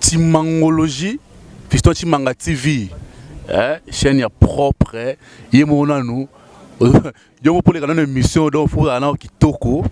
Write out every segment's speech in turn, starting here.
Timangologie, Fiston Timanga TV, eh, chaîne ya propre, ye moko nanu yo moko poleka nanu émission donc faut ozala nao kitoko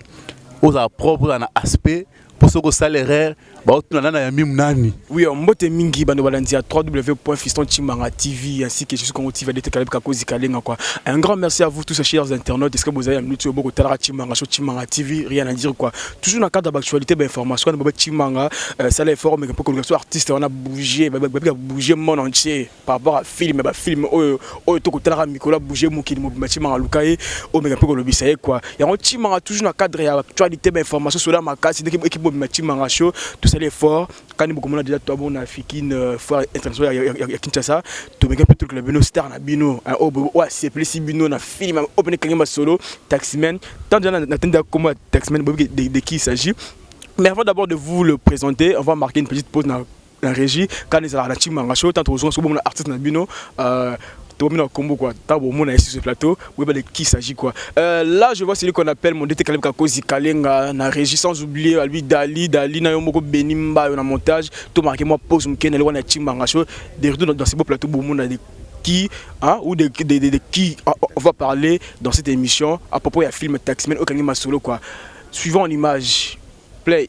ozala propre ozala na aspect mpo soki osala erreur baotuna nana ya mimu nani oui euh, mbote mingi bando balandi ya www.fistontchimanga tv ainsi que jesus congo tv adete kalabika kozi kalenga quoi un grand merci à vous tous chers internautes est-ce que bozali ya minute oyo bokotalaka chimanga sur chimanga tv rien à dire quoi toujours na cadre d'actualité bainformation wana bobe chimanga euh, sala effort meke mpo koluka so artiste wana bouge babika bouge monde entier par rapport à film ba film oyo oyo to kotalaka mikolo a bouger mokili mobimba chimanga luka ye o meka pe ko lobisa ye quoi yango chimanga toujours na cadre ya actualité ba information sola makasi ndeki équipe mobimba chimanga show tout ça l'effort kani bokomona déjà toi bon na fikine euh, foire internationale ya, ya, ya Kinshasa to meka pe truc la bino star na bino hein, o o sepelisi bino na film o pene kangi masolo taximen tant déjà na tenda comment taximen bobi de, de qui il s'agit mais avant d'abord de vous le présenter on va marquer une petite pause na na régie kani ezalaka na chimanga show ntango tokozonga soki bomona artiste na bino euh, tobomi na kombo kua ntango bomona ye sur plateau boyeba de qui s'agit quoi euh, là je vois celui qu'on appelle mon dete kalebka kozi kalenga na régie sans oublier albi dali dali na yo moko beni mbayo na montage to marqué moi pose moke na lekwana ya chimanga show de retour dans ce beau plateau bomona de qui hein, ou de, de, de, de qui hein, on va parler dans cette émission à propos ya film taximen okangi masolo quoi suivant en image play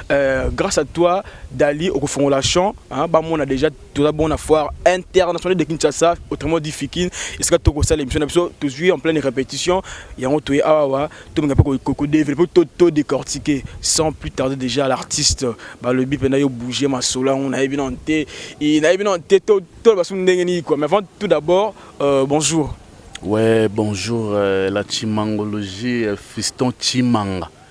Euh, grâce à toi Dali okofongola champ hein, bamona déjà toza bon na foire internationale de Kinshasa autrement dit Fikin esika tokosala émission na biso tozwi en pleine répétition yango toye awa tolinga mpe kodévelopper to, to décortiquer sans plus tarder déjà l'artiste balobi mpena yo bouge masolo yango nayebi nano te nayebi nano te toloba soki ndenge nini quoi mais avant tout d'abord euh, bonjour ouais bonjour euh, la chimangologie euh, fiston chimanga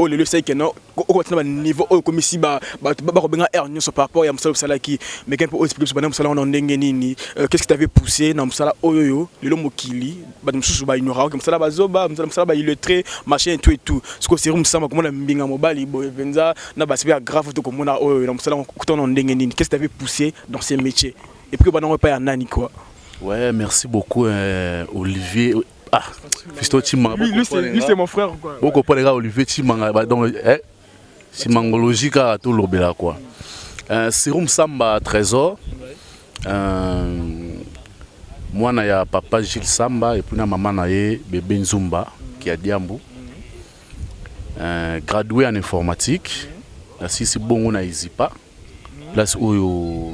oyo oh, lelo esali kena okobati na baniveau oyo okomisi bato bakobenga aire nyonso par rapport ya mosala osalaki meke mpe oexplike biso banda mosala wana ndenge nini euh, qu'est ce qui t'avait poussé na mosala oyo oyo lelo mokili bato mosusu baignoraka mosala bazoba mosala baillettre machin et tout et tout sikoyo seri mosama komona mbinga mobali boye mpenza na basipe ya grave to komona oyo na mosala kutana ndenge nini qu'est ce qui t'avait poussé dans ces métiers et puis obanda ngo epai ya nani quoi ouais merci beaucoup euh, olivier Ah, Fisto Chimanga. Lui, lui, c'est, lui, c'est mon frère quoi. Boko pole ga Olivier Chimanga ba donc eh Chimangologie ka to lobela quoi. Euh, Serum Samba Trésor. Euh, mwana ya papa Gilles Samba et puis na maman na ye bébé Nzumba qui a Diambu. Euh, gradué en informatique. Na sisi bongo na Izipa. Mm -hmm. place oyo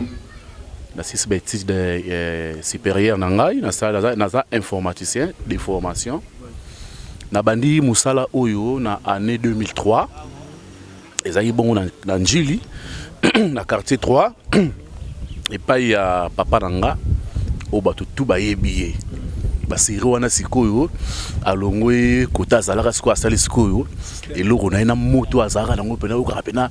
nasilisi ba étude euh, supérieure na ngai naza informaticien de formation nabandi mosala oyo na année 2003 ezalaki bongo na, na njili na quartier 3 epai ya papa na nga oyo bato tu bayebi ye baseri wana sikoyo alongwe kota azalaka sikoyo asali sikoyo eloko na ye na moto azalaka nango mpena okaka mpena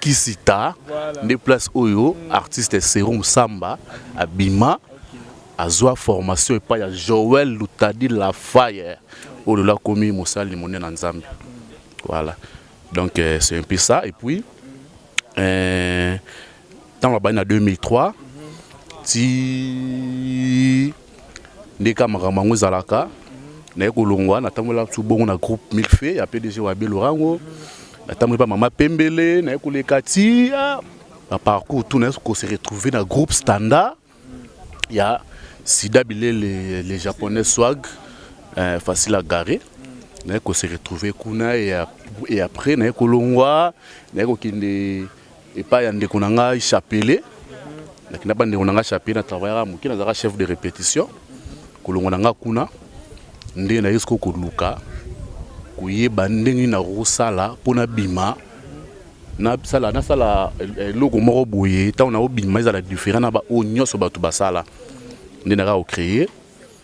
Kisita nde place oyo artiste Serum Samba abima azwa formation epai ya Joël Lutadi la Fire oyo lelo akomi mosali monene na Nzambe. Voilà. Donc euh, c'est un peu ça et puis euh, ntango abandi na 2003 ti nde kaka makambo yango ezalaka naye kolongwa natambola biso bongo na groupe milfe ya pdg wa belo rango natamboli pa mama pembele naye koleka ti ah, na parcours tout naye kose retrouver na groupe standard ya sida bilele le japonais swag euh, facile à garer naye kose retrouver kuna et après naye kolongwa naye kokende epai ya ndeko na ngai Chapelet nakenda ba ndeko na ngai Chapelet na travaillaka moke nazalaka chef de répétition kolongo na ngai kuna nde naye siko koluka koyeba ndenge na kosala mpo nabima nasala nasala eloko moko boye ntango nakobima ezala différent na baoyo nyonso bato basala nde naka kocreye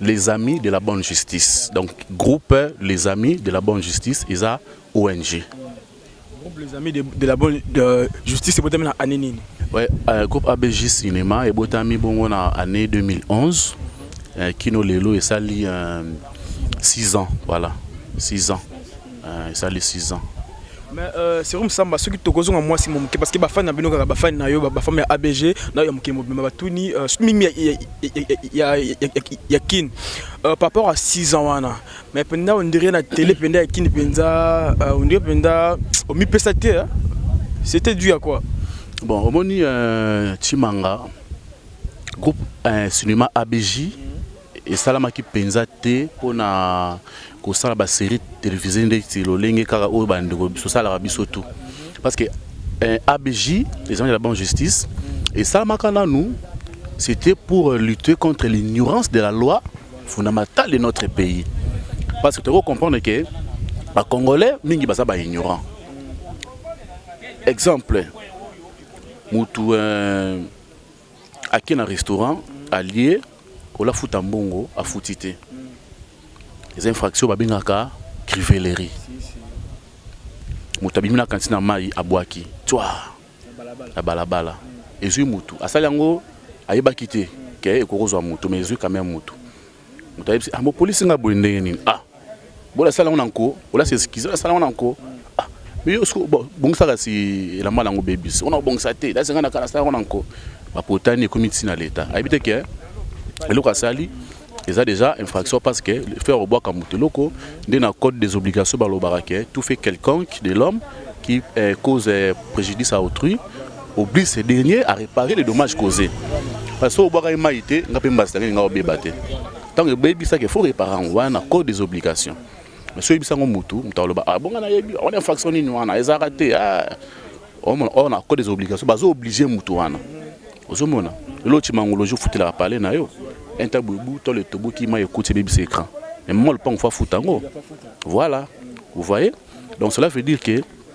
les amis de la bonne justice donc groupe les amis de la bonne justice eza ong groupe les amis de, de la bonne de justice ebotami na année nini ouais, euh, groupe abg cinéma ebotami bongo na année 2011 euh, kino lelo esali euh, 6 ans voilà 6 ans Euh, esali 6 ans mais euh, serum samba soki tokozonga mwasi mo moke parce que bafani na bino kaka bafani na yo bafami ya abg na yo ya mokili mobimba batuni euh, mingi ya kin par rapport à 6 ans wana mais mpenza ondire na tele mpenza ya kin mpenza ondire mpenza omipesa te c'était dû à quoi bon omoni chimanga groupe cinéma abg esalamaki mpenza te mpo na kosala baserie televise ndeti lolenge kaka oyo bandeko tosalaka biso tu parce que eh, abj exemple la bonne justice esalamaka nanu c'était pour lutter contre l'ignorance de la loi fondamentale de notre pays parce que tokoki comprendre ke bacongolais mingi baza baignorant exemple mutu euh, ake na restaurant alie ola futa mbongo afuti te eza infraction babengaka crivelerie moto abimi na kanti na mai abwaki twa na balabala ezwi motu asali yango ayebaki te ke ekokozwa motu ma ezwi kameme motu moto ayebisi ah bopolisi nga boye ndenge nini ah bola sala ngona nko ola se eskize ola sala ngona nko ah mais yo siko bongisa kasi elamba nango bebisi ona obongisa te la senga na kala sala ngona nko bapotani ekomi ntina leta ayebi te ke eloko asali eza déjà infraction parce que le faire obwaka moto eloko nde na code des obligations balobaka ke tout fait quelconque de l'homme qui eh, cause eh, préjudice à autrui oblige ce dernier à réparer les dommages causés parce que obwakaki mai te nga mpe mbasi nangeli nga obeba te ntango ebebisaki efo repara yango wana na code des obligations mais soki oyebisa yango motu moto akoloba ah, bonga nayebi wana infraction nini wana ezalaka te ah. omona oyo na code des obligations bazo oblige motu wana ozomona lelo cimangoloji ofutelaka pale na yo intabubu tole toboki mai ekuti ebebisa écran mais mama lopango fo afuta yango voilà vous voyez donc cela veut dire que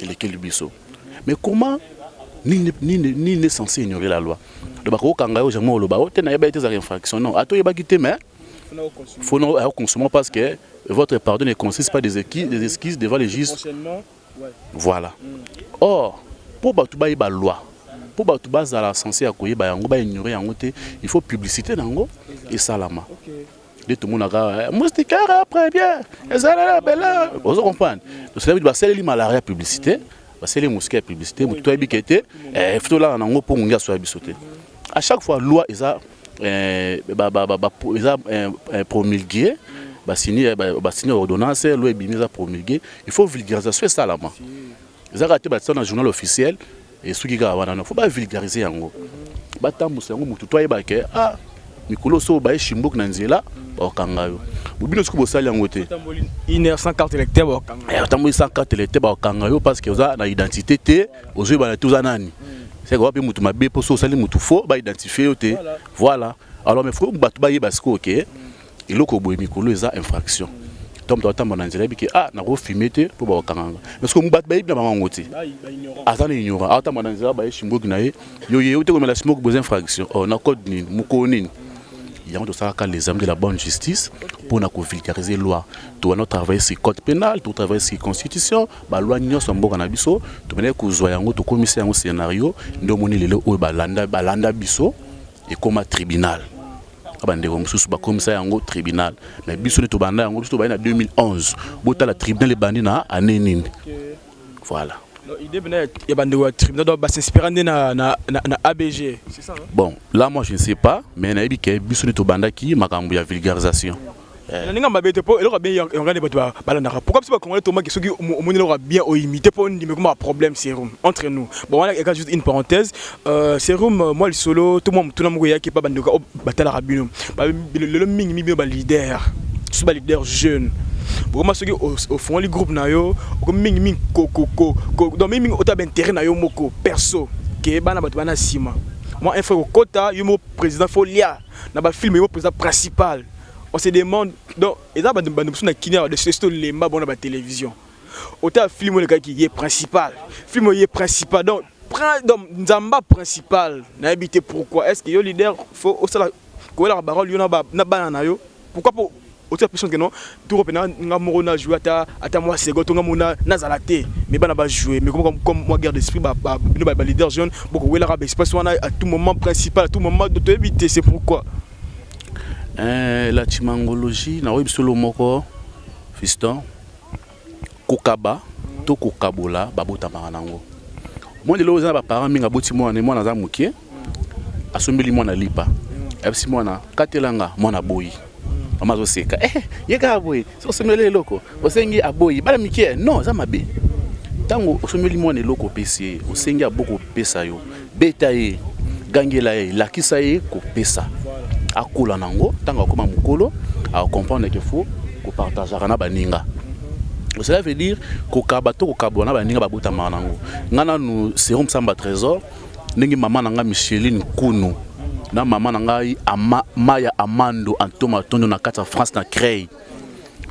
elekeli biso mais comment nini nini nini censé ignorer la loi donc bakokanga yo jamais oloba o oh, te nayeba ete ezalaka infraction non ato oyebaki te mais faut non akonsomma parce que votre pardon ne consiste pas des excuses, des excuses devant les juges ouais. voilà mm. or mpo bato bayeba loi mpo bato bazala sense ya koyeba yango baignorer yango te il faut publicité na yango esalama okay. nde tomonaka eh, mustikara premier ezalala bela ozo comprendre tosalabi basaleli malaria publicité basaleli mosike ya publicité motu toyebi ke te eh, fo tolala nango mpo ngongi asoya biso te à chaque fois loi eza eh, eza promulguée basini ordonnance loi ebimi eza promulguée il faut vulgarisation esalama eza kaka te batia na journal officiel esuki kaka wana no fo bavulgarise yango batambusa yango motu to ayeba ke ah mikolo so baye shimboki na nzela bakokanga yo bobino soki bosali yango te otamboli sans carte electeur bakokanga yo parce que oza na identité te ozoyebana te oza nani seke wape motu mabe mpo so osali motu fo baidentifie yo te voilà alors mais fo bato bayeba sikoyo ke okay. eloko boye mikolo eza infraction to moto atamba na nzela bike ah nakofime te mpo bakokanganga parce que bato bayebi na bango yango te aza na ignorant atamba na nzela baye simboki na ye yo ye ote komela smoke boza infraction oh, na code nini mokolo nini yango tosalaka les amis de la bonne justice mpo na kovulgariser loi towana travaille sur code pénal totravaille sur constitution baloi nyonso ya mboka na biso tobandaki kozwa yango tokomisa yango scénario nde omoni lelo oyo balanda biso ekoma tribunal bandeko mosusu bakomisa yango tribunal me biso nde tobanda yango biso tobandi na 2011 botala tribunal ebandi na ane nini voilà idée bena ya bandeko ya tribunal donc basinspira nde na, na, na, na abg hein? bon là moi je ne sais pas mais nayebi ke biso nde tobandaki makambo ya vulgarisation Eh. na ninga mabe te po eloko bien yongani bato balandaka pourquoi biso bakongole tomaki soki omoni eloko bien oyimite po ndimi ekoma problème serum entre nous bon wana eka juste une parenthèse euh, serum euh, mwa lisolo to mwa motuna moko eyaki epa bandoka oyo oh, batalaka bino lelo mingi mi bino baleader so baleader jeune bokoma soki ofongoli groupe na yo okomi mingi mingi donc mingi mingi ota baintérêt na yo moko perso ke bana bato bana nsima mwa info ekokota yo moko président folia na ba film yo peza principal on se demande donc eza ba ba musu na kinia ba dessus to lemba bona ba télévision ota film le kaki ye principal film ye principal donc prend donc nzamba principal na habité pourquoi est-ce que yo leader faut osala ko la parole yo na ba na bana na yo pourquoi po otia pression que non tour pena nga moko na jouer ata ata moi second to nga mona nazala te mais bana ba jouer mais comme comme moi guerre d'esprit ba ba bino ba leader jeune boko wela ka espace wana à tout moment principal à tout moment de te éviter c'est pourquoi euh la chimangologie na oyebi solo moko fiston kokaba to kokabola babotamaka nango moi lelo oza na baparent mingi aboti mwana mwana aza moke asombeli mwana lipa abisi mwana katela nga mwana boyi mama azoseka eh, ye kaka boye soki osombeli eloko osengi aboyi bana mike non aza mabe ntango osombeli mwana eloko opesi ye osengi aboko opesa yo Beta ye, gangela ye, lakisa ye kopesa. Akola nango, ntango akoma mokolo, akokomprendre ke fo kopartageaka na baninga. Cela veut dire kokaba to kokabwa na baninga babotamaka nango. Nga nanu Serum Samba Tresor, ndenge mama na nga Micheline Kunu na mama na ngai Ama, Maya Amando Antoma Tondo na kati ya France na Creil.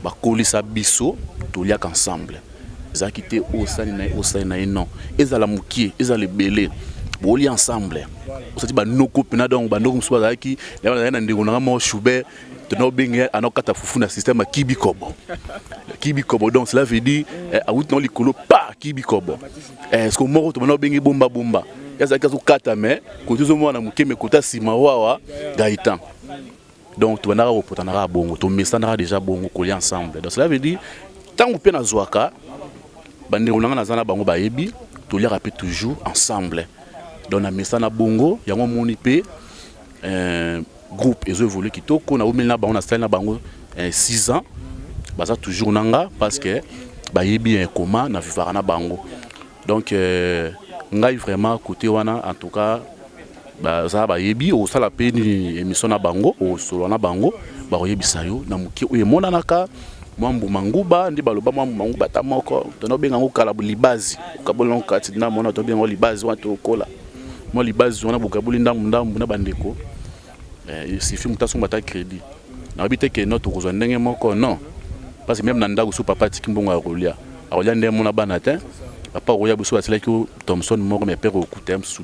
bakolisa biso toliaka ensemble ezalaki te oyo osali na ye osali na ye non ezala mokie ezala ebele boli ensemble osati banoko mpena donc banoko mosusu bazalaki bazalaki na ndeko nanga moko shube tona obenge anakata fufu na systeme ya kibikobo kibikobo donc cela veut dire eh, awuti nao likolo pa kibikobo eh, siko moko tomona obenge bombabomba azalaki azokata me kote ozomona na moke me kota nsima wawa gaitan donc tobandaka kopotana kaka bongo tomesanaka déjà bongo kolia ensemble donc cela veut dire ntango mpe nazwaka bandeko na ngai naza na bango bayebi toliaka mpe toujours ensemble donc namesana bongo yango omoni mpe euh, groupe ezo évolue kitoko naumeli na bango nasali na bango 6 euh, ans baza toujours na nga parce que bayebi ya ekoma na vivaka na bango donc euh, ngai vraiment côté wana en tout cas baza bayebi okosala mpe nini emission na bango okosolola na bango bakoyebisa yo na moke oyo emonanaka mwa mbuma nguba nde baloba mwa mbuma nguba ata moko tonaobenga yango kala libazi okaboli yango kati na mona tobenga yango libazi wana tokola mwa libazi wana bokaboli ndambu ndambu na bandeko eh, sifi moto asomba ata crédit nayebi te ke no tokozwa ndenge moko non parce que meme na ndako so papa atiki mbongo ya kolia akolia nde mona bana te papa okoya biso basilaki thomson moko me mpe kokuta ye mosusu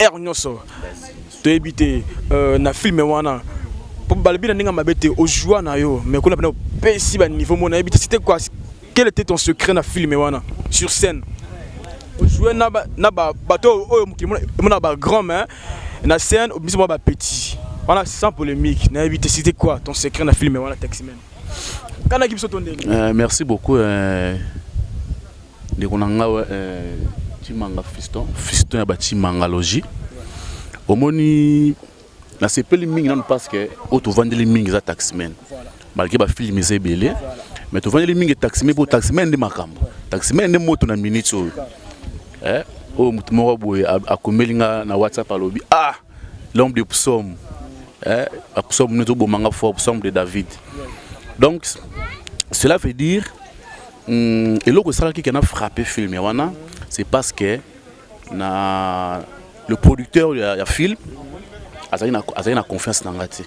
heure nyonso toyebi te euh, na filme wana po balobi na ndenge mabe te ojua na yo mais kuna pena opesi baniveau mona yebi te site quoi quel était ton secret na filme wana sur scène ojoue na bato oyo mokili emona bagrand mais na scène obimisi mwa bapetit wana sans polémique nayebi te site quoi ton secret na filme wana taximen kanaki biso to ndenge euh, merci beaucoup euh... Ndeko na nga eh, Chimanga Fiston, Fiston ya ba Chimangalogie. Omoni nasepeli mingi nanu parce que oyo tovandeli mingi eza taximen malgré bafilme eza ebele mais tovandeli mingi taximen mpo taximen nde makambo taximen nde moto na minute oyo eh, oyo moto moko boye akomeli nga na whatsapp alobi ah l'homme de psaume eh, psaume nous bomanga fort psaume de David donc cela veut dire hmm, eloko esalaki kena frappe film ya wana c'est parce que na le producteur ya, ya film azali na, azali na confiance na ngai te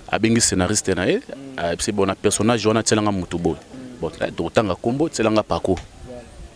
abengi scénariste na ye ayebisi mm. eh, bona personnage wana atyelanga motu boye mm. bon eh, tokotanga nkombo tyelanga pako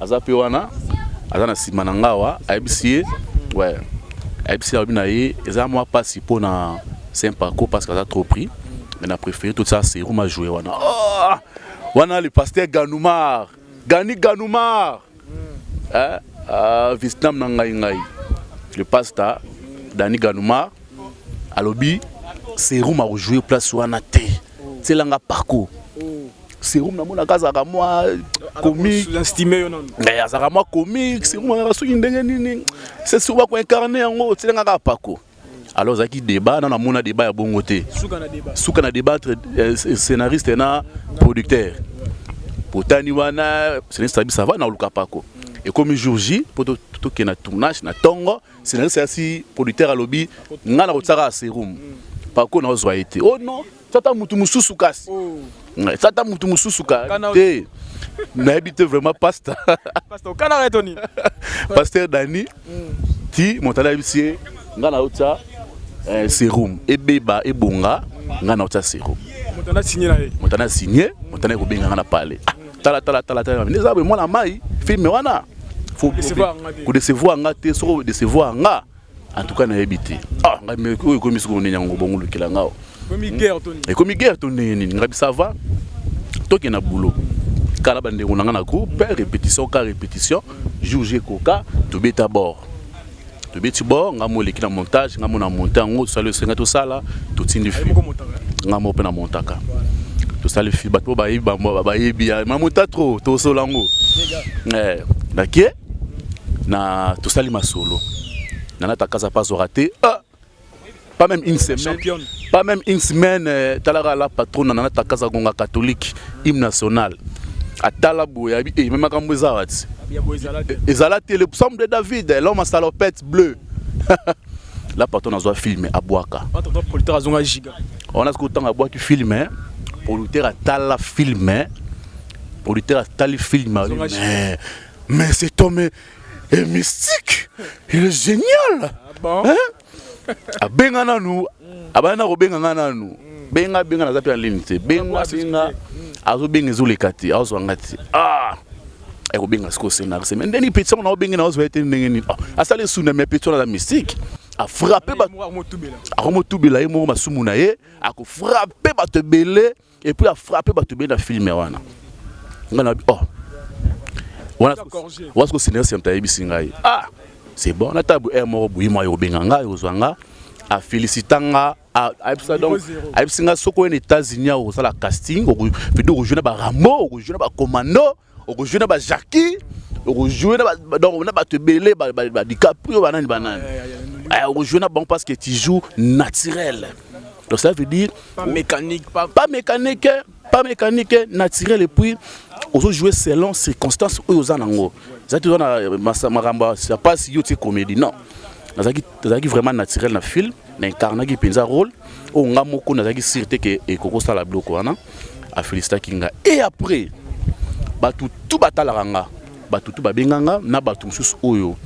aza pe wana aza na sima na ngawa ayebisi ye ouais ayebisi alobi na ye eza mwa mpasi mpo na saint parcours parce que aza trop pris mais na préféré tout ça serum a joué wana oh! wana le pasteur ganoumar gani ganoumar mm. eh? uh, vietnam na ngai ngai le pasta dani ganoumar alobi serum akojoue place wana te Tiela nga Paco. Serum na mona kaza ka mwa comique. J'estime yo non. Mais eh, azaka mwa comique, serum na soki ndenge nini. C'est souvent ko incarner yango, tiela nga Paco. Alors zaki débat, na mona débat ya bongo te. Suka na débat. Suka na débat entre euh, scénariste na producteur. Potani wana, scénariste ça va na luka Paco. Et comme jour J, pour tout qui est na tournage, na tongo, Scénariste ya si producteur alobi nga na kotsaka serum. Pako na ozwa ye te. Oh non, tata mutu mususu kasi. Tata mutu mususu ka te. Nayebi te vraiment pasta. Pasta okana ya Tony. Pasteur Dani. Ti montana ayebisi ye nga na otsa eh, serum ebeba ebonga nga na otsa serum. Montana signé na ye. Montana signé, montana ekobenga nga na pale. Ah, tala tala tala tala nde eza boye mwana mai filme wana kodecevoir nga te soko odecevoir nga en tout cas nayebi te ah ngai me oyo ekomi sikoyo nini yango bongo olukela nga ekomi guerre to ndenge nini ngai bisava toke na boulot kala bandeko na ngai na groupe répétition ka répétition jour je koka tobeta bord tobeti bord nga mo eleki na montage nga mo na monte yango tosali esenga tosala totindi fi nga mo mpe na montaka tosali fi bato bayebi bayebi ma mota tro tosola yango eh, nake na tosali masolo nanatakaza pa azwaka te ah! pas même une semaine championne pas même une semaine euh, talaka la patronne nana takaza gonga catholique hymne national atala boye abi eh, meme makambo eza wati ezala te le psaume de david eh, l'homme à salopette bleu la patronne azwa filme abwaka wana soki otanga abwaki filme eh. producteur atala filme producteur atali filme mais c'est homme et mystique il est génial ah bon? hein? abenga nanu abandi na kobenga nga nanu benga benga naza mpe na ligne te benga benga azobenga ezoleka te azwa nga te ah ekobenga sikoyo scénariste mais ndeni petit yango naobenge na ozwa ye te ndenge nini ah, asali esunda mais petit wana aza mystique afrappe akomotubela ye moko masumu na ye akofrappe bato ebele et puis a frappe bato be na film wana nga na oh wana wana ko senior senta yebisi ngai ah c'est bon na tabu er moko buyi mwa yobenga ngai ozwa nga a félicita nga ayebisa donc ayebisi nga soko oye na états-unis akozala casting okovido okozwi na barambo okozwi na bacommando okojoue na bajaki okojoue na bato ebele badicaprio banani banani eh, okojoue na bango parce que tu joue naturel donc ça veut dire pas mécanique pas, pas mécanique pas mécanique naturel et puis ozojoue selon circonstance oyo oza nango eza te oza na makambo ya mpasi yo tie comédie non nazalaki tozalaki vraiment naturel na film na incarnaki mpenza rôle oyo nga moko nazalaki sur te ke ekoki osala biloko wana afelisitaki nga e après bato tu batalaka nga bato tu babenga nga na bato mosusu oyo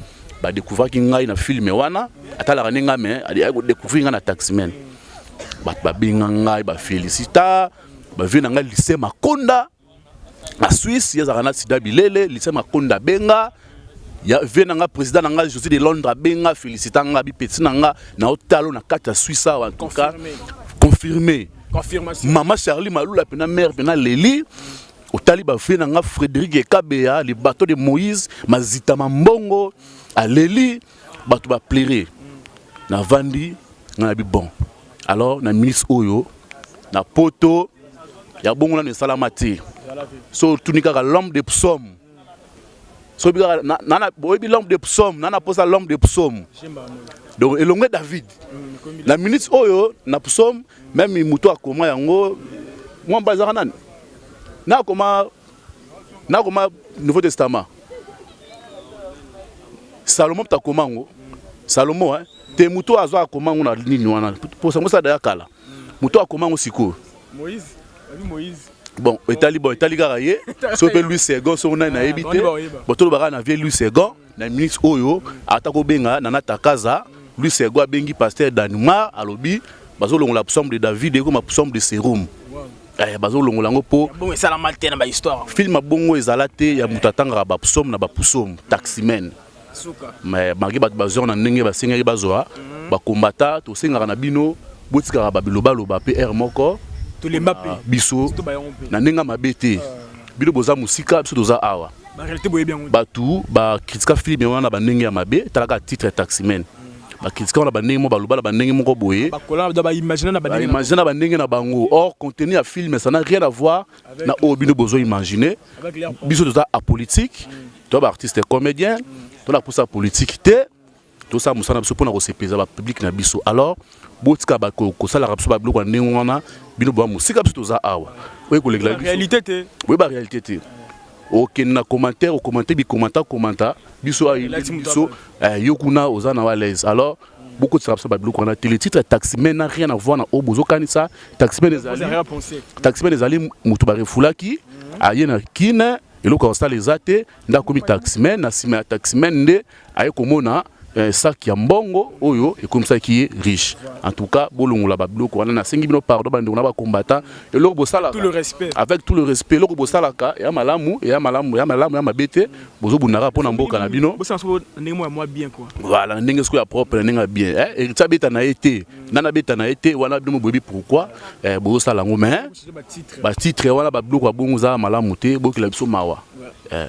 badekouvraki ngai na filme wana atalaka nde ngai me ayaki kodekouvrir ngai na taximen bato babenga ngai bafelisita bavie na ngai lise makonda na Suisse ye azalaka na sida bilele Lucien Makonda abenga ya vie na nga président na nga José de Londres abenga félicita nga bipeti na nga na otalo na kati ya Suisse awa en tout cas confirmé mama Charlie Malula pena mère pena Leli otali ba vie na nga Frédéric Ekabeya le bateau de Moïse mazita mambongo aleli bato ba plaire na vandi nga na bi bon Alors na ministre oyo na poto ya bongo nanu esalama te so otuni kaka l'homme de psaume soki kaka na- na- na- boyebi l'homme de psaume nana posa l'homme de psaume donc elongo ya david na minute oyo na psaume meme moto akoma yango mwamba ezaka nani na akoma nakoma nouveau testament salomo mpe akoma yango salomo eh? te moto oyo azwaka akoma yango na nini wana mposa yango sada ya kala moto oyo akoma yango sikoyo bon etali bon etali kaka ye so mpe louis second soko nani nayebi te bon tolobaka na vie louis second na minute oyo ata kobenga nana takaza louis second abengi pasteur danimar alobi bazolongola psaume de david ekoma psaume de serum wow. Eh, bazolongola yango mpo bongo esalama te na bahistoire filme ya bongo ezala te ya moto atangaka bapsome na bapusome taximen mais bangi bato bazwaka na ndenge basengeli bazwa mhm. bakombata tosengaka na bino botikaka babilobaloba mpe r moko tolemba mpe biso na ndenge mabe te ah. bino boza mosika biso toza awa bato bakritika filme wana na bandenge ya mabe talaka titre taximen bakritikaka na bandenge moko baloba na bandenge moko boye baimagine na bandenge na bango or contenu ya film ça n'a rien à voir na oyo bino bozo imagine biso toza apolitique to baartiste comédien tona posa politique te tosala mosala na biso mpona kosepeza bapublike na biso alors botika kosalaka biso babiloko ya ndenge wana bino boa mosika biso toza awa oyekolekela biso boye barealité te okende na commentaire okomante bikomanta komanta biso ayelaki biso eh, yo kuna oza na walaise alors bokotisa biso babiloko wana te le titre ya taximen na rien avoir na oyo bozokanisa taximen ezali taximen ezali moto barefulaki aye na kine eloko ya kosala eza te nde akomi taximen na nsima ya taximen nde aye komona eh, sac ya mbongo oyo ekomisaki ye riche en tout cas bolongola babiloko wana nasengi bino pardon bandeko na bacombattant eloko bosalaka Tout le respect. avec tout le respect eloko bosalaka ya malamu ya malamu ya malamu ya mabe te bozobundaka mpo na mboka na bino Bosala soko ndenge moko ya mwa bien quoi. voilà na ndenge soko ya propre na ndenge ya bien eh, héritier abeta na ye te nani abeta na ye te wana bino boyebi pourquoi eh, bozosala yango mais Ba titre. batitre wana babiloko ya bongo ezalaka malamu te bokela biso mawa eh.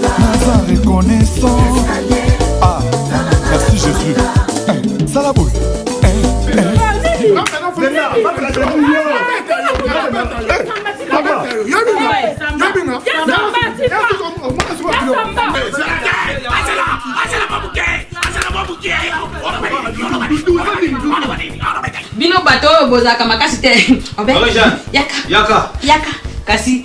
naza reconnaissant ah merci jésus eh, sala boye eh, eh. bino bato oyo bozalaka makasi te yaka kasi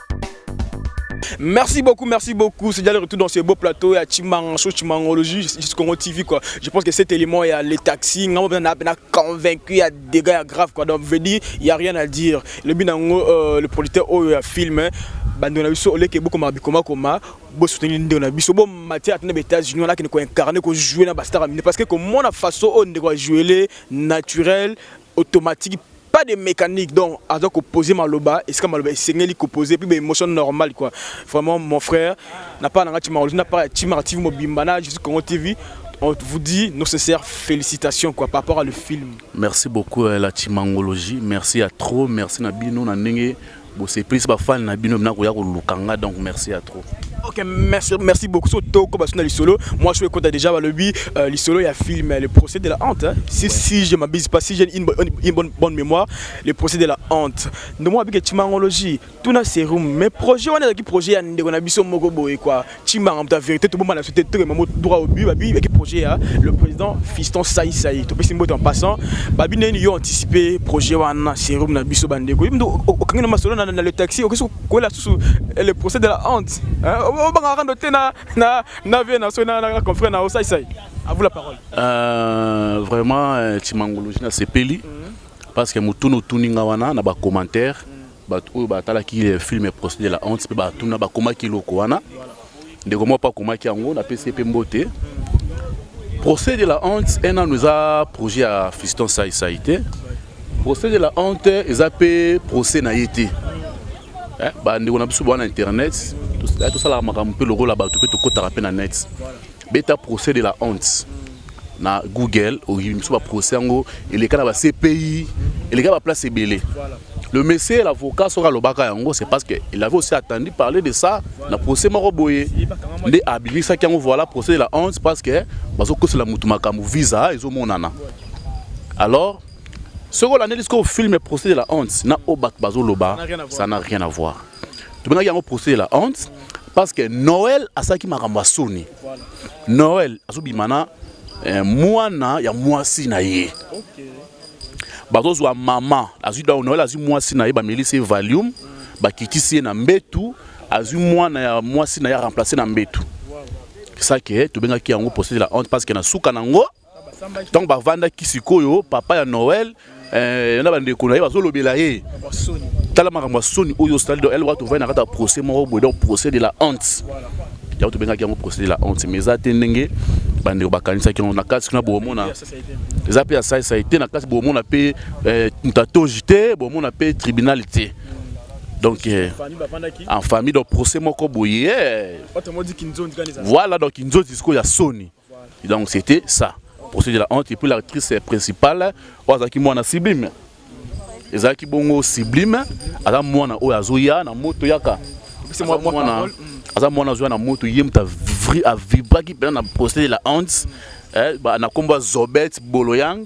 Merci beaucoup, merci beaucoup. C'est déjà le retour dans ce beau plateau à Chimango, Chimangologie, Congo TV quoi. Je pense que cet élément il y a les taxis, on a convaincu, il y a des gars graves quoi. Donc veut dire, il y a rien à dire. Le binango euh, le producteur au oh, film hein. bando na biso oleke bokoma bikoma koma bosuteni ndeko na biso bomati ata na baétats-unis wana akende koincarne kojoue na bastar mine parce que komona façon oyo ndeko ajoele naturel automatique pas de mécanique donc aza ko poser maloba esika maloba esengeli ko poser puis ba émotion normale quoi vraiment mon frère na part nanga chimaro na part ya chimaro TV mobimba na Jésus Congo TV on vous dit nos sincères félicitations quoi par rapport à le film merci beaucoup euh, la chimangologie merci à trop merci na bino na ndenge Bo surprise ba fan na bino bina koya koluka nga donc merci à trop. Ok, merci, merci beaucoup. So toko parce que na lisolo, moi je suis content déjà le bi euh, lisolo ya film le procès de la honte. Hein. Si ouais. si je m'abuse pas si j'ai une, bonne, une bonne bonne mémoire, le procès de la honte. Nous moi avec timangologie, tout na serum mais projet on a qui projet ya ndeko na biso moko boye quoi. Chimbanga muta verite tobomba na société tokema mo droit au but babi eki projet ya le président Fiston Sai Sai topesi mbote en passant babi neni yo anticiper projet wana serum na biso bandeko yimdo okangi na masolo na, na le taxi okesi kokwela susu eh, le procès de la honte hein? obanga rando te na na na vie na so na, na confrère na Sai Sai à vous la parole euh, vraiment euh, Chimangologie na sepeli mm -hmm. parce que mutunu tuninga wana na ba commentaires mm -hmm. bato oyo batalaki le film procès de la honte mpe batuna bakomaki eloko wana ndeko moko mpe akomaki yango napesi ye mpe mbote procès de la honte enano eza projet ya fiston saisai te procès de la honte eza mpe procès na ye te eh, bandeko na biso bwana internet tosalaka makambo mpe lokola bato mpe tokotaka mpe na net voilà. beta procès de la honte na google oyebi biso baprocès yango eleka na bacpi eleka baplace ebele le monsieur l'avocat soki alobaka yango c'est parce que il avait aussi attendu parler de ça na procès moko boye nde abimisaki yango voilà procès de la honte parce que bazokosela motu makambo visa ezomonana alors soki olandeli sikoyo filme procès de la honte na oyo bato bazoloba ça n'a rien à voir tobengaki yango procès de la honte parce que noel asalaki makambo ya soni noel azobima na eh, mwana ya mwasi na ye bazozwa mama azwi donc noel azwi mwasi na ye bamelisi ye valium bakitisi ye na mbetu azwi mwana ya mwasi na ye aremplace na mbetu sake tobengaki yango procès de la honte parce que na suka na yango ntango bavandaki sikoyo papa ya noel eh, na bandeko na ye bazolobela ye tala makambo ya soni oyo osali donc elwa tovai na kati ya procès moko boye donc procès de la honte yango tobengaki yango procès de la honte mais eza te ndenge bandeko bakanisaki yango na kati kuna bomona eza mpe ya saisai te na kati bomona mpe eh, ntatoji te bomona mpe tribunal te donc euh, en famille donc procès moko boye eh. voilà donc kinzonzi sikoyo ya soni Donc c'était ça. Procès de la honte et puis l'actrice principale oyo azalaki mwana sublime. Ezalaki bongo sublime aza mwana oyo azoya na moto yaka. C'est moi mwana aza mwana azoya na moto ye moto a vibraki mpenza na procès de la honte eh, na nkombo ya Zobet Boloyang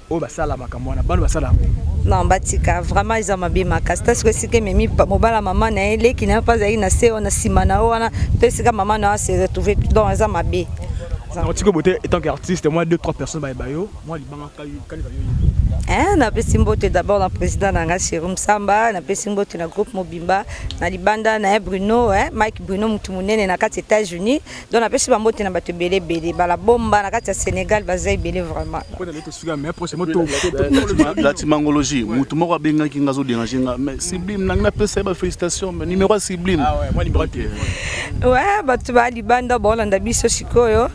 oyo basala makambo wana bana basala yango non batika vraiment eza mabe makasi ta sikoyo esika ememi mobala mama na ye leki na ye mpe azalaki na se wana nsima na yo wana to esika mama na yo ase retrouve donc eza mabe otiki bote etant que artiste moi deux trois personnes bayeba yo moi libanga kanisa yo Eh, napesi mbote d'abord na président na ngai chéri msamba napesi mbote na groupe mobimba na libanda na ye bruno eh, mike bruno motu monene na kati états-unis donc napesi bambote na bato ebele ebele bala bomba na kati ya sénégal baza ebele vraimentlatimangologie motu moko abengaki nga azoderange nga mais sublime nangi napesa ye bafélicitation mais numéro ya sublime ah ouais bato ba libanda baolanda biso sikoyo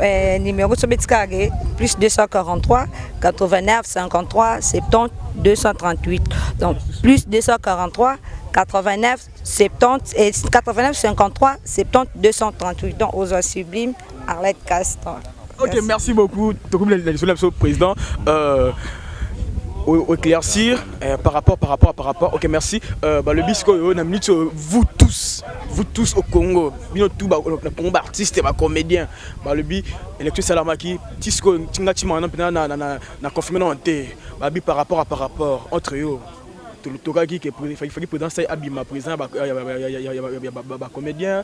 eh, numéro sobeti kaka ke plus 243 89 53 70 238 donc plus 243 89 70 et 89 53 70 238 donc ozo sublime Arlette Castan. Ok, merci, merci beaucoup. Tokobi la lisolo biso président euh au éclaircir euh, par rapport par rapport par rapport. OK, merci. Euh bah le bisco yo na minute euh, vous tous, vous tous au Congo, bino tout ba euh, na Congo artiste ba comédien. Bah le bi électro salamaki, tisco tinga tima na na na na confirmer non té. Bah bi par rapport à par rapport entre eux. tokaki ke faki président sai abima président ba comédien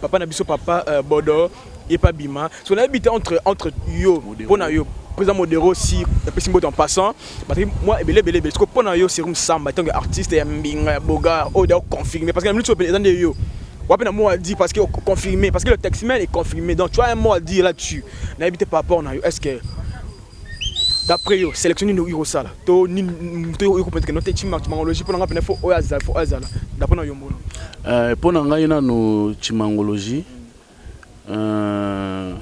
papa na biso papa euh, bodo ye pa bima so nayebi te entre entre yo mpo na yo président modero si apesi mbote en passant bataki mwa ebele ebele ebele soko mpo na yo serum samba ntango ya artiste ya mbinga ya bogar oyo da confirme parce que na minute oyo eza nde yo wapi na mot à dire parce que confirmé parce que le taximan est confirmé donc tu as un mot à dire là-dessus nayebi te par rapport na yo est ce que D'après yo, selection nini okoki kosala to nini moto oyo okoki kopeteke note chimangologie mpo na ngai mpena fo oyo azala fo oyo azala d'après na yombono? Euh, mpo na ngai nano chimangologie euh,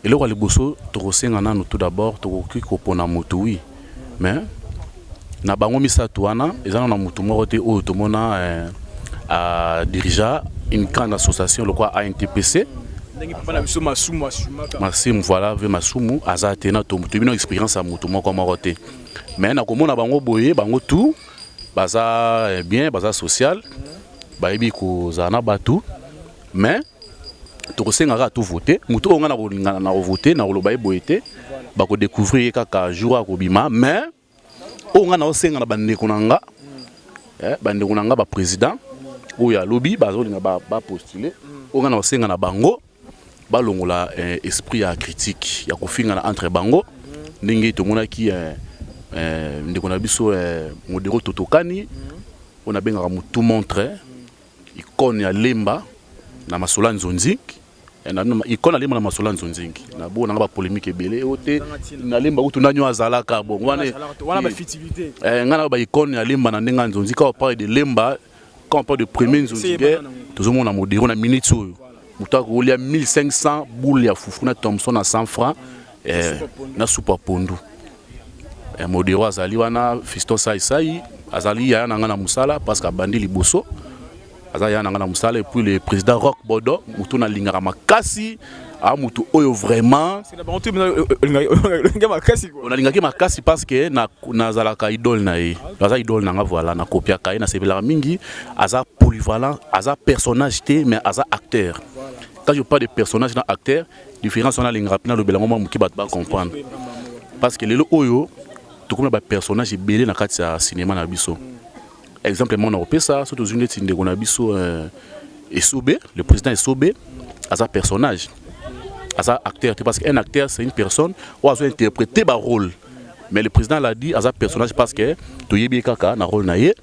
eloko ya liboso tokosenga nano tout d'abord tokoki kopona moto wi oui. mais na bango misato wana eza na motu moko te oyo tomona eh, a dirigea une grande association lokwa ANTPC masimu voilà ve masumu aza te na tomoto bino expérience ya motu moko moko te mais nakomona bango boye bango tout baza eh, bien baza social bayebi kozala na bato mais tokosenga kaka tovote moto oyo ngai nakolingana na kovote nakoloba ye boye te bakodecouvrir ye kaka jour akobima mais oyo ngai naosenga na bandeko na nga eh, bandeko na nga baprésident oyo alobi bazolinga bapostule oyo ngai naosenga na bango balongola eh, esprit ya critique ya kofingana entre bango ndenge tomonaki eh, eh, ndeko na biso eh, modero totokani oyo nabengaka motu montre Icône ya Lemba na Masola Nzonzing. Eh, ikona lemba na masola nzonzingi na bo nanga ba polemique ebele o te na lemba kutu nani azalaka bongo wana wana ba fitilité eh ngana ba icône ya lemba na ndenge nzonzi ka parle de lemba quand on parle de premier nzonzi guerre tozomona modero na minute oyo moto akolia 1500 boule ya fufu na Thompson na 100 francs eh, na supa pondu Eh, modero azali wana fiston saisai azali yaya na ngai na mosala parce que abandi liboso aza yaya na ngai na mosala epuis le président rock bodo motu nalingaka makasi a motu oyo vraiment nalingaki makasi parce que nazalaka na idole na ye aza idole na ngai voilà nakopiaka ye nasepelaka mingi aza polyvalent aza personnage te mais aza acteur quand je parle de personnage na acteur Différence wana alingaka mpe nalobela yango mwa moke bato bacomprendre parce que lelo oyo tokomi na bapersonnage ebele na kati ya cinéma na biso exemple moko na kopesa so tozwi ndeti ndeko na biso euh, esobe le président esobe aza personnage aza acteur te parce que un acteur c'est une personne oyo azo interpréter barôle mais le président l'a dit aza personnage parce que toyebi ye kaka na rôle na ye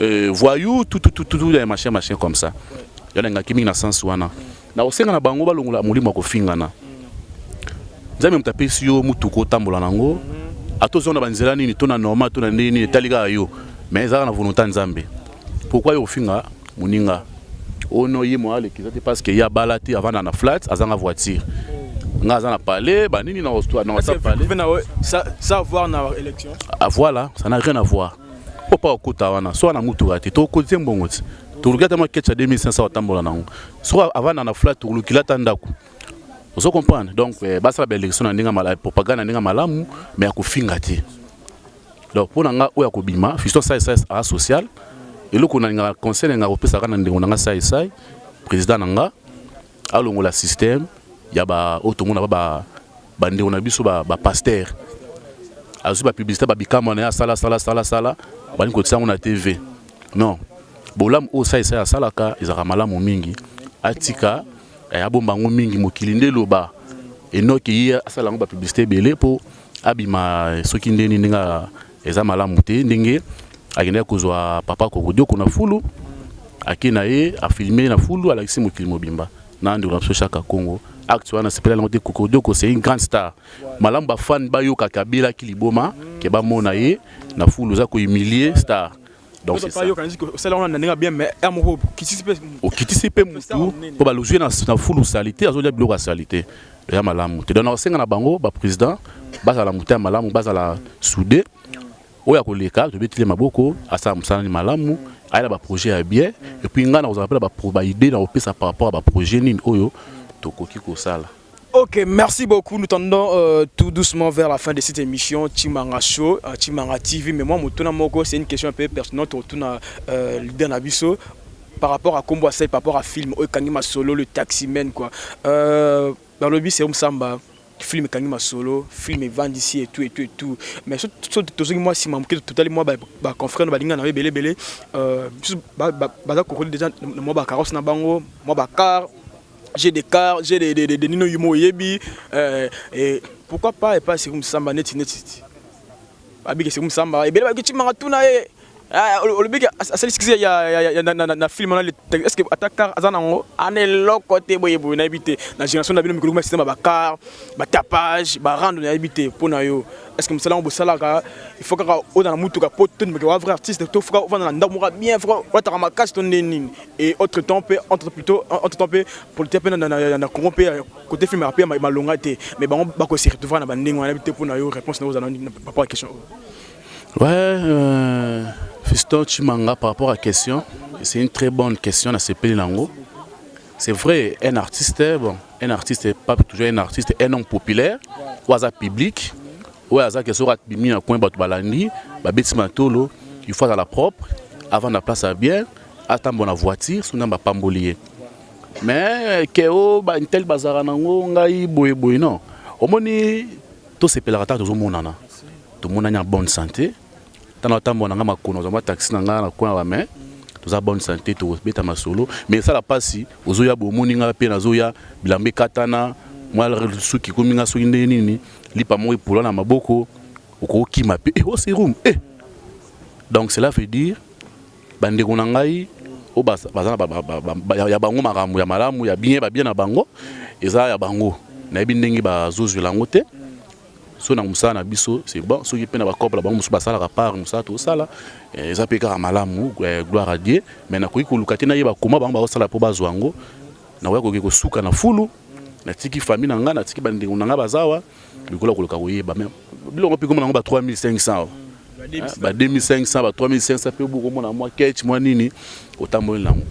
euh, voyou tout tout tout tout ya machin machin comme ça yo na ngaki mingi na sens wana na osenga na bango balongola molimo ya kofingana nzambe moto apesi yo motuka otambola nango ata ozonga na banzela nini to na normal to na ndenge nini etali kaka yo mais ezalaka na volonté ya nzambe pourkui yo kofinga moninga oyo oh no ye moya aleki eza te parce que ye abala te avanda na flat azanga voiture nga aza na palais banini na whatsapp palais ça avoir na élection ah, voilà ça n'a rien à voir mpo mpa okota wana soki na mutuka te tokotie mbongo ti toluki ata mwa keche ya 2500 otambola nango soki avanda na flat tolukila ata ndako ozo comprendre donc eh, basala baélection na ndenge malamu propagande na ndenge malamu mais ya kofinga te donc mpo na ngai oyo akobima fiston saisai aa social eloko nalingaka conseil na ngai akopesaka na ndeko na ngai saisai président na ngai alongola système ya ba oyo tomona ba ba bandeko na biso ba, ba pasteur azwi ba publicité ba bikama na ye asala sala sala sala balingi kotisa yango na tv non bolamu oyo sa esai asalaka ezalaka malamu mingi atika eh, abomba yango mingi mokili nde eloba enoki ye asala yango ba publicité ebele mpo abima eh, soki ndeni ndenge eza malamu te ndenge akendaki kozwa papa kokodioko na fulu ake na ye afilme na fulu alakisi mokili mobimba na ndeko na biso shaka congo acte wana sepela yango te kokodioko c'est une grande star malamu bafane bayokaka abelaki liboma ke bamona ye na fulu oza kohumilie star donc c'est ça yokanisi que osala wana na ndenge bien mais ya moko okitisi mpe okitisi mpe mutu mpo baluzwi na fulu salite azolia biloko ya salite ya malamu te donc nakosenga na bango baprésident bazala moto ya malamu bazala soude oyo akoleka tobetile maboko asala mosala ni malamu ayela baprojet ya bien epuis ngai nakozala mpe na baidée na kopesa par rapport ya baprojet nini oyo tokoki kosala Ok, merci beaucoup. Nous tendons euh, tout doucement vers la fin de cette émission Chimanga Show, euh, Chimanga TV. Mais moi, Motuna Moko, c'est une question un peu personnelle. Motuna euh, leader Nabiso par rapport à Combo Asai, par rapport à film, Okangi Masolo, le taximan, quoi. Euh, dans le but, c'est Samba. film ekangi masolo film evandi si etu etu etu mais so tozongi mwa nsima moke totali mwa baconfrère balinga na yo ebele ebele biso baza kokoli déjà na mwa bacarrosse na bango mwa bacar j'ai des cars j'ai des, des, des, des nino yuma oyebi euh, et pourquoi pas epai seku mosamba neti neti babiki seku mosamba ebele bayoki timanga tuna ye olobiki asali sikisi na filme wana est ce que ata car aza nango ana eloko te boye boye nayebi te na génération na bino mikolo kuma système bacar batapage barando nayebi te mpo na yo est ce que mosala yango bosalaka il faut kaka oza na motuka mpo tondimaka wa vrai artiste to foka ofanda na ndako moka bien foka olataka makasi to nde nini et autre temps pe entre plutôt entre temps pe politique pe na na na Congo pe côté film pe malonga te mais bango ba ko se retrouver na bandingue wana te pona yo réponse na ozana par rapport à question ouais euh, Fiston Chimanga par rapport à question c'est une très bonne question na sepeli nango c'est vrai un artiste bon un artiste pas toujours un artiste un homme populaire ou aza public ou aza que sera bimi na coin bato balandi babeti matolo il faut à la propre avant la place à bien atambo na voiture soki nzambe apamboli ye mais ke o bantel bazalaka nango ngai boye boye non omoni tosepelaka ntango tozomonana tomonani ya bonne santé ntango atambo na ngai makolo nazwa mwa taxi na ngai na coin ya bamain toza bonne santé tokobeta masolo mais esala mpasi ozoya bomoni ngai mpe nazoya bilamba ekatana mwa suki ekomi ngai soki ndenge nini lipa moko epola na maboko okokima mpe eh, oserum oh, eh. donc cela veut dire Bandeko na ngai oyo baza ya bango makambo ya malamu ya bien babie na bango eza ya bango nayebi ndenge bazozwela yango te soki na mosala na biso c'est bon soki mpe na bacope na bango mosusu basalaka part mosala tosala eh, eza mpe kaka malamu eh, gloire à dieu mais nakoki koluka te nayeba koma bango bakosala mpo bazwa yango nakoya koki kosuka na fulu natiki famille na ngai natiki bandeko na ngai bazawa Lokola okoloka koyeba mais biloko mpe komona yango ba 3500 ba 2500 ba 3500 mpe bokomona mwa ketch mwa nini otamboli na yango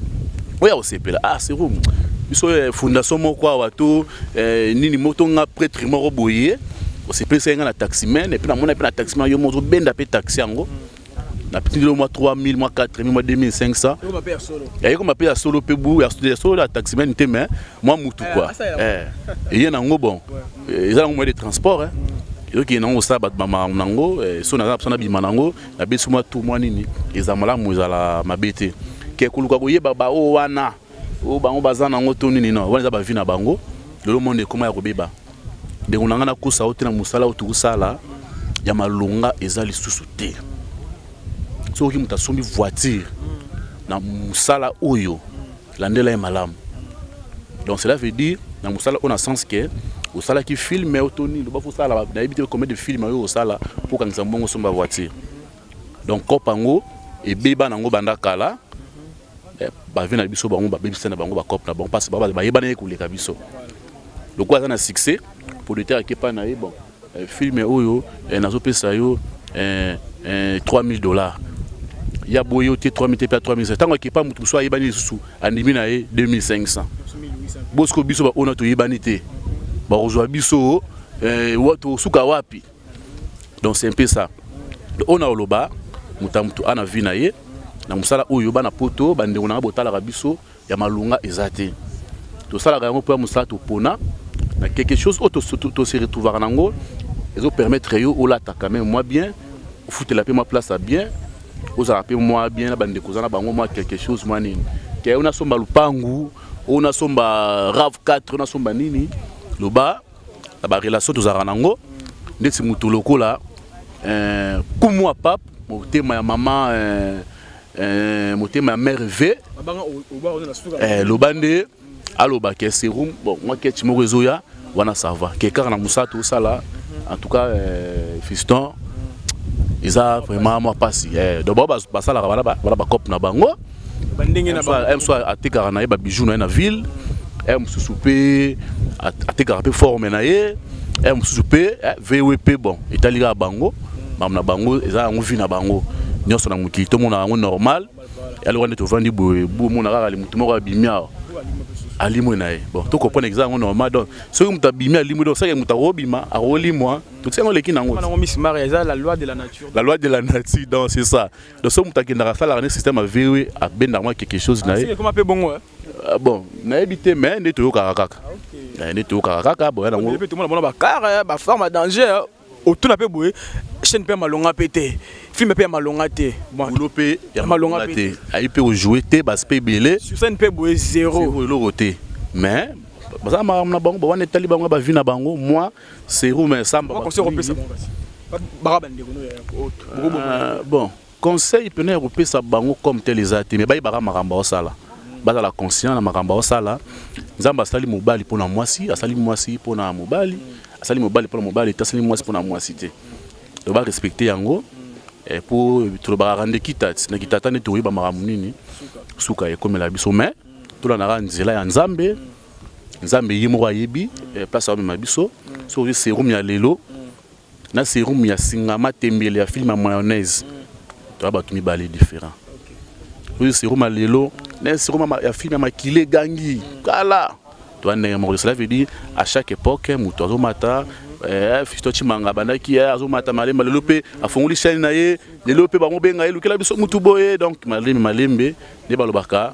oya kosepela ah sero biso eh, fondation moko awa to eh, nini moto nga pretre moko boye osepelisa ye nga na taximen epuis namona mpe na taximen yo moko ozobenda mpe taxi yango na petit mwa 3000 mwa 4000 mwa 2500 yaye koma pe ya solo pe bu ya solo ya taximan te mais mwa mutu eh, quoi eh eye nango bon eh, eza nango moyen de transport hein ezoki nango kosala bato bamakambo na yango eh, so naza na mposa nabima na yango nabesi mwa tu mwa nini eza malamu ezala mabe te ke koluka koyeba baoyo wana oyo bango baza nango to nini no wana eza bavi na bango lelo monde ekoma ya kobeba ndeko na ngai nakosa yo te na mosala oyo tokusala ya malonga eza lisusu te soki moto asombi voiture na mosala oyo landela ye malamu donc cela veut dire na mosala oyo na sens ke osalaki filme oyo to nini loba fo osala nayebi te combien de filme oyo osala mpo okangisa mbongo osomba voiture donc cope yango ebeba nango banda kala eh, bavi na biso bango babebisa na bango bacope na bango mpasi bayebana ye koleka biso lokola aza na succès producteur akepa na ye bon eh, film oyo eh, nazopesa yo 3000 dollars ya boye yo te 3000 te mpe 3000 ntango akepa moto mosusu ayebani lisusu andimi na ye 2500 bosiko biso baona toyebani te bakozwa biso tosuka wapi donc c'est un peu ça oyo na oloba moto ya moto a na vie na ye na mosala oyo bana poto bandeko nanga botalaka biso ya malonga eza te tosalaka yango mpo ya mosala topona na quelque chose oyo tose retrouvaka na yango ezopermettre yo olata quand même mwa bien ofutela mpe mwa place ya bien ozala mpe mwa bien na bandeko oza na bango mwa quelque chose mwa nini te oyo nasomba lupangu oyo nasomba rave 4 oyo nasomba nini loba na ba relation tozalaka nango ndeti moto lokola euh, kumwa pape motema ya mama euh, euh, motema ya mare v eh, loba nde aloba ke serum bon mwa kechi moko ezoya wana sava ke kaka na mosala tosala en tout cas euh, fiston eza vraiment mwa mpasi eh, donc bao basalaka bana bacope na bango msoir atekaka na ye babijou na ye na ville e mosusu mpe atekaka mpe forme na ye e mosusu mpe eh, voe mpe bon etali kaka bango makambo na bango eza yango vi na bango nyonso na mokili tomona yango normal yaloka nde tovandi boye bomona kaka motu moko abimi awa alimwe na ye bon tokopona eza yango normal donc soki moto abimi alimwe donc seke moto akobima akolimwa totiango leki na yango la loi de la nature donc c'est ça donc soki moto akendaka asalaka nde système ya vewe abendaka mwa quelque chose na ye ekoma mpe bongo eh? ah, bon nayebi te mais nde toyokaka kaka ah, eh, nde toyokaka kaka boya nango tomona mona bakare bafarme ya danger eh. otuna mpe boye chaîne mpe ya malonga mpe te film mpe ya malonga te bolo mpe ya malonga te ayi mpe kojoue te basi mpe ebele sur scène mpe boye zero eloko te mais baza makambo na bango bawana etali bango bavi na bango moi Seru mais samba ba conseil kopesa bango kasi. Baka ba ndeko no ya autre. Euh, bon, conseil pena ya kopesa bango comme tel eza te mais bayi baka makambo osala. Bazala conscient na makambo osala. Nzambe asali mobali pona mwasi, asali mwasi pona mobali, asali mobali pona mobali, asali mwasi pona mwasi te. Donc ba respecter yango. Mm. Eh, po tolobaka nde kitati na kitata nde toyeba makambo nini suka ekomela biso me tolandaka nzela ya nzambe nzambe ye moko ayebi eh, place amema biso soki ozwi serum ya lelo na serum ya singa matembele ya filme ya mayonnaise toya bato mibale différent ozwi serum ya lelo na serum ya filme ya makila egangi kala toya ndenge moko cela veut dire à chaque époque moto azomata eh, fisto chimanga abandaki eh, azomata malembe lelo mpe afongoli chaine na ye lelo mpe bango benga ye lukela biso motu boye donc malembe malembe nde balobaka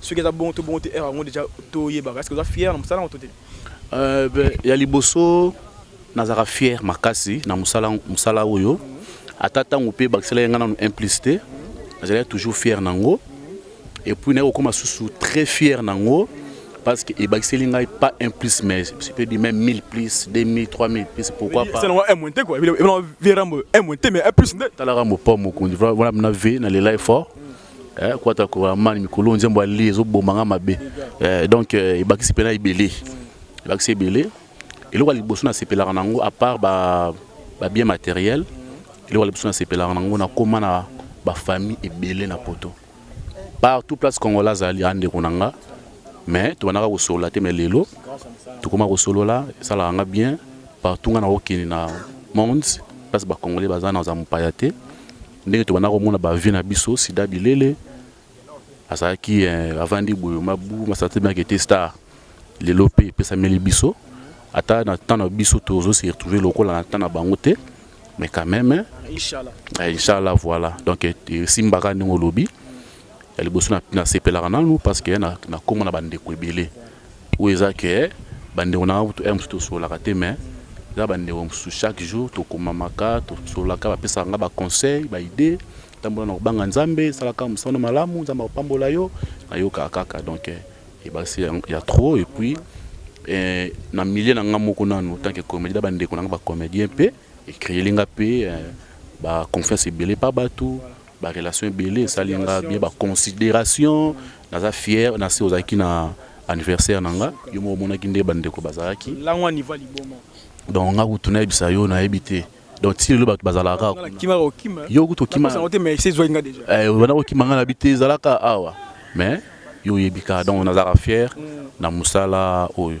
soki eza bongo to bongo te heure yango deja toyebaka est ce que oza fier na mosala yango to te euh, ya liboso nazalaka fier makasi na mosala mosala oyo ata ntango mpe bakisela ye ngai nano implice te nazalaki toujours fier na yango epuis naye kokoma susu très fier na yango parce que ebakiseli ngai pas un plus mais je peux dire même 1000 plus 2000 3000 plus pourquoi pas selon un monté quoi il est vraiment un monté mais un plus nde tala rambo pas mokundi voilà na v na les life fort eh, kwata ko amani mikolo nzembo ali ezoboma nga mabe eh, donc eh, ebakisi mpena ebele ebakisi ebele eloko ya liboso nasepelaka na yango apart babien ba matériel eloko ya liboso nasepelaka na yango nakóma na bafamille ebele na poto partout place congola azali andeko na nga mais tobandaka kosolola te mais lelo tokóma kosolola esalaka nga bien partout nga nakokende na monde place bacongolais baza na za mopaya te ndenge tobanda komona ba vie na biso sida bilele azalaki eh, avandi boyo mabu masate bien kete star lelo mpe epesameli biso ata na temps na biso tozo se retrouver lokola na temps na bango te mais quand même hein. inchallah eh, inchallah voilà donc eh, esimbaka ndenge olobi ya liboso nasepelaka nanu parce que nakomona bandeko ebele Oyo eza que ba ndeko na nga kutu heure mosusu tosololaka te mais eza ba ndeko mosusu chaque jour tokomamaka, tosololaka, ba pesaka nga ba conseils, ba idees, tambola na kobanga Nzambe, sala kaka mosala malamu, Nzambe akopambola yo. Nayokaka kaka donc ebakisi ya, ya trop et puis eh, na milieu na nga moko nanu en tant que comédien na ba ndeko na nga ba comédien mpe ecreeli nga mpe eh, ba confiance ebele pa bato Ba relations ebele esali nga bien ba consideration naza fier na se ozalaki na anniversaire na nga yo moko omonaki nde ba ndeko bazalaki langwa niva liboma donc nga kutu nayebisa yo nayebi te donc ti lelo bato bazalaka yo kutu okima banda kokima nga na bi te ezalaka awa mais yo oyebi ka donc nazalaka fier mm. na mosala oyo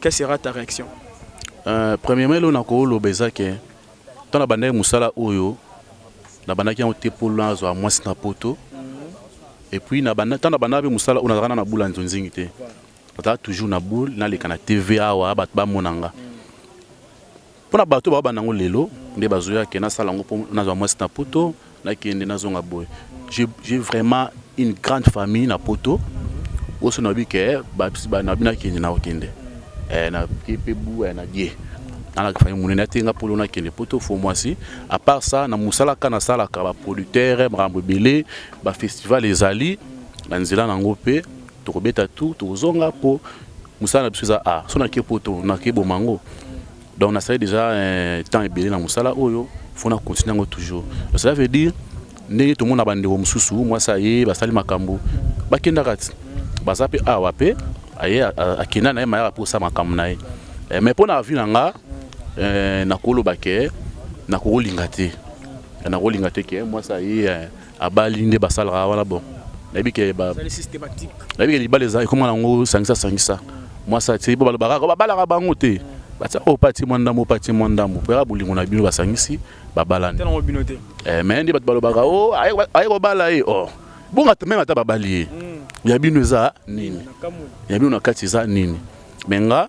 Quelle sera ta réaction? Euh, premièrement, eloko nakoloba eza ke ntango nabandaki mosala oyo nabandaki yango te mpo nazwa mwasi na poto mhm. epuis ntango nabandaka mpe mosala oyo nazalaka na bula nzonzingi te nazalaka toujours na boule naleka na tv awa bato bamona nga mhm. Pona bato ba banda ngo lelo nde bazo ya ke na sala ngo po na zwa mwasi na poto na kende na zonga boye. J'ai vraiment une grande famille na poto oso na bi ke ba ba na bina kende na kende. Eh na kepe bu eh, na die. Na la famille munene atenga polo na kende poto fo mwasi. À part ça na musala ka na sala ka ba producteurs makambo ebele ba festival ezali na nzela na ngo pe tokobeta tout tozonga po musala na biso eza a so nake poto nake boma yango donc nasali déjà eh, temps ebele na mosala oyo fo na continue yango toujours donc cela veut dire ndenge tomona bandeko mosusu mwasi aye basali makambo bakendaka ti baza mpe awa mpe aye akenda na ye mayaka mposa makambo na ye eh, mais mpo na avi na nga eh, nakoloba ke nakokolinga te nakolinga te ke mwasi aye abali nde basalaka wana bon nayebi ke nayebi ke libala eza ekoma nango sangisa sangisa mwasi atie po balobaka kaka babalaka bango te batia oyo pati mwa ndambo pati mwa ndambo mpo yaka bolingo na bino basangisi babalani eh, me nde bato balobaka o oh, aye kobala ye o oh. bonga meme ata babali ye hmm. ya bino eza nini ya bino na kati eza nini me nga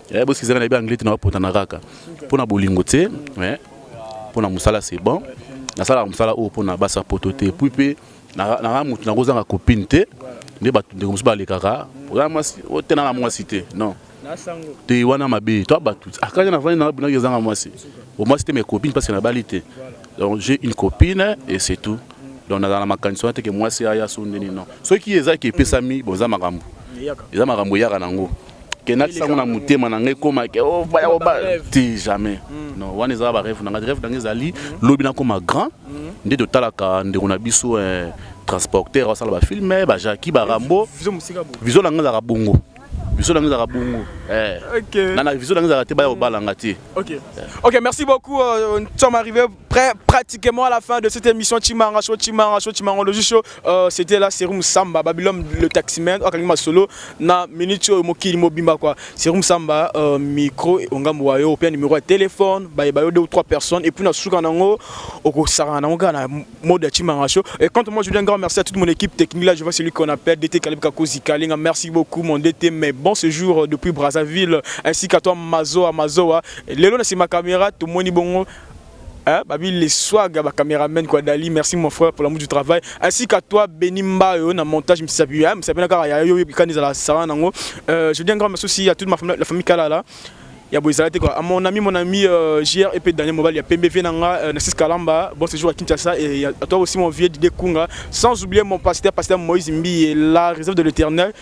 Eh, bosi ezanga na yebi anglais te na bapotana kaka mpo na bolingo te eh, mpo na mosala c'est bon nasalaka mosala oyo mpo na basi ya poto te puis mpe nanga motu nakozanga copine te nde bato ndeko mosusu balekaka oza mwasi otena na mwasi te non te wana mabe to bato akaka ah, na vandi nanga binaki ezanga mwasi omwasi te mais copine parce que nabali te donc j'ai une copine et c'est tout donc nazala na makanisi wana te ke mwasi aya so ndeni non soki ezalaki epesami boza makambo eza makambo eyaka nango ke natisa yango na motema na ngai ekoma ke oh, baya oba te jamais hmm. non wana ezala bareve na ngai reve na ngai ezali hmm. lobi nakoma grand hmm. nde totalaka ndeko na biso eh, transporteur asala bafilme bajaki barambo viso na ngai ezalaka bongo biso nanga ezalaka bongo eh. na na biso nanga ezalaka te baya kobalanga te ok merci beaucoup euh, nous sommes arrivés Près, pratiquement à la fin de cette émission Chimanga Show, Chimanga Show, Chimangologie Show, euh, c'était la Serum Samba, Babylone le taximan, Akangi Masolo, na minute oyo mokili mobimba quoi. Serum Samba, euh, micro, ongambo wa yo, puis numéro de téléphone, ba ba yo deux ou trois personnes, et puis na suka nango, oko sara nango ga na mode ya Chimanga Show. Et quand moi je dis un grand merci à toute mon équipe technique là, je vois celui qu'on appelle DT Kalib Kakozi Kalinga, merci beaucoup mon DT, mais bon séjour euh, depuis Brazzaville, ainsi qu'à toi Mazoa Mazoa. Lelo na c'est ma caméra, tout moni bongo, Hein, babi les swag ya ba cameraman quoi Dali, merci mon frère pour l'amour du travail. Ainsi qu'à toi Beni Mbayo na montage Msabi, hein, Msabi na kaka ya yo bikani za la sara nango. Euh, je dis un grand merci aussi à toute ma famille, la famille Kalala. ya boezala te quoi à mon ami mon ami euh, JR et Daniel Mobali ya Pembe vie nanga euh, Nassis Kalamba bon séjour à Kinshasa et à toi aussi mon vieux Didier Kunga sans oublier mon pasteur pasteur Moïse Mbi et la réserve de l'éternel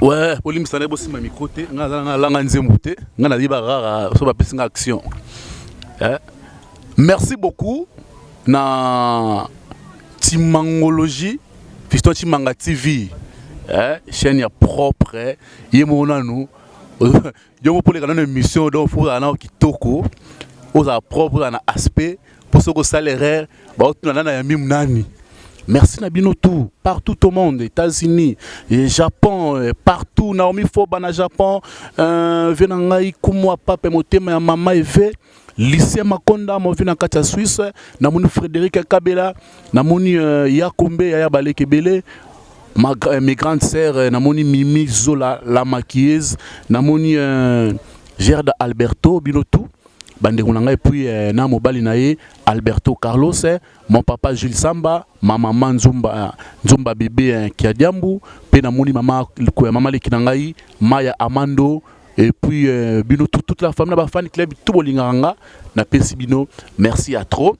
Ouais, bolimbisa na bosimba micro te nga aza na langa nzembo te nga nayeba rara so bapesi nga action eh? merci beaucoup na timangologie fiston timanga tv eh? chaîne ya propre ye moko nanu yo moko poleka nano émission donc fo ozala nao kitoko ozala propre ozala na aspect mpo soki osala erreur baotuna nana ya mimu nani merci na bino tout partout au monde états-unis et japon euh, partout naomi foba na japon euh, vie na ngai kumwa pape motema ya mama eve lycée Makonda movi na kati ya Suisse namoni Frédéric Kabela namoni uh, Yakombe ya Yabaleke Bele ma, euh, mes grandes sœurs euh, namoni Mimi Zola la maquilleuse namoni euh, Gerda Alberto bino tout bandeko na ngai puis eh, na mobali na ye Alberto Carlos eh, mon papa Jules Samba ma maman Nzumba eh, Nzumba bébé eh, Kiadiambu pe namoni mama ko ya mama leki na ngai Maya Amando Et puis, euh, bino, tout, toute la famille, la fan club, tout bolinganga, na pesi bino, merci à trop.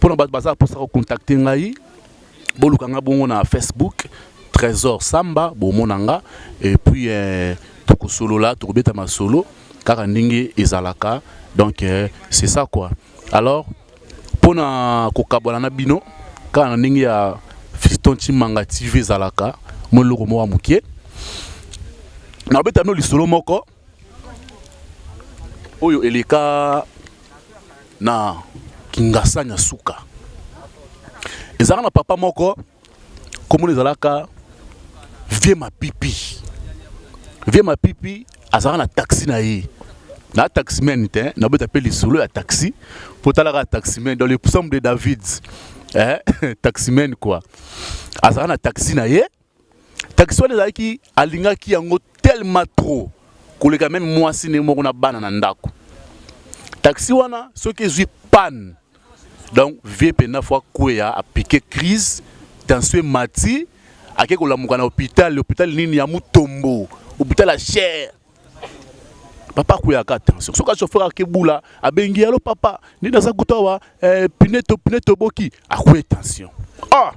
Pour notre bazar, pour ça, contacter ngai, bolukanga bongo na Facebook, Trésor Samba, bomonanga, et puis, euh, toko solo là, toko beta ma solo, car en ezalaka, donc, euh, c'est ça quoi. alors mpo na kokabwana na bino kaka na ndenge ya fiston chimanga tv ezalaka mwa eloko moko ya moke nabeta bino lisolo moko oyo eleka na kingasani ya suka ezalaka na papa moko komona ezalaka vie mapipi vie mapipi azalaka na taxi na ye na taximen te nabeta mpe lisolo ya taxi mpo talaka taximen dans le psaume de david eh? taximen quoi azalaka na taxi na ye taxi wana ezalaki alingaki yango tellement trop koleka meme mwasi ndenge moko na bana na ndako taxi wana soki ezwi panne donc vie penda fo akweya apike crise tension emati ake kolamuka na hôpital hôpital nini ya mutombo hôpital ya cher papa akuyaka tension soki achauffeur akebula abengi yalo papa nini aza kutu awa eh, pine toboki akuye tension ah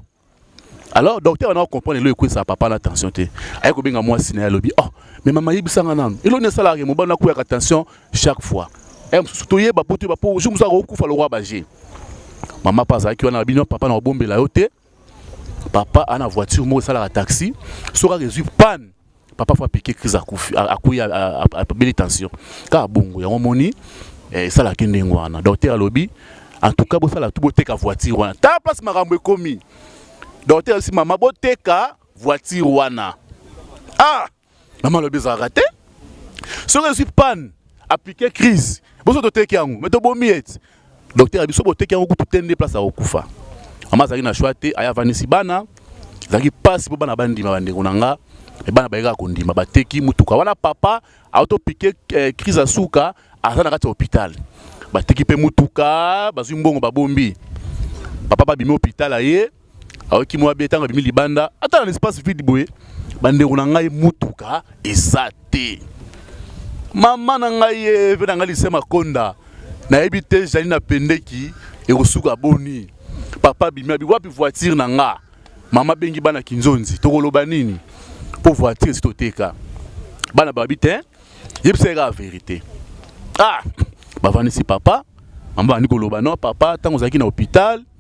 alors docteur wana comprendre elo ekwesa papa na tension te aye kobenga mwasi na ye alobi oh mais mama yebisanga nanu elo nde esalaka mobali nakweyaka tension chaque fois eh, mosusu toyeba po toyeba po jour mosusu akokufa lokwa baje mama mpe azalaki wana bino papa na kobombela yo te papa ana voiture moko esalaka taxi soki akezwi panne papa fo apike crise akufi akuyi abeli tension kaka bongo yango omoni eh, esalaki ndenge wana docteur alobi en tout cas bosala tu boteka voiture wana ta place makambo ekomi docteur alobi mama boteka voiture wana ah mama alobi ezalaka te soki ezwi panne apike crise boso toteki yango me tobomi ete Docteur ya biso boteki yango kutu te nde place ya kokufa. Mama azalaki na choix te, aya avandisi bana. Ezalaki mpasi mpo bana bandima bandeko na nga me bana bayekaka kondima bateki motuka wana papa autopike eh, crise ya suka aza na kati ya hôpital bateki mpe motuka bazwi mbongo babombi papa babimi hôpital aye ayoki mwa bie ntango abimi libanda ata na espace vide boye bandeko na ngai motuka eza te mama na ngai ye mpe na ngai lise makonda nayebi te ezali na pendeki ekosuka boni papa abimi abi wapi voiture na nga mama abengi bana kinzonzi tokoloba nini mpo voiture esi toteka bana babi te yebisa ye kaka verité ah bavandisi papa mama bandi koloba no papa ntango ozalaki na hôpital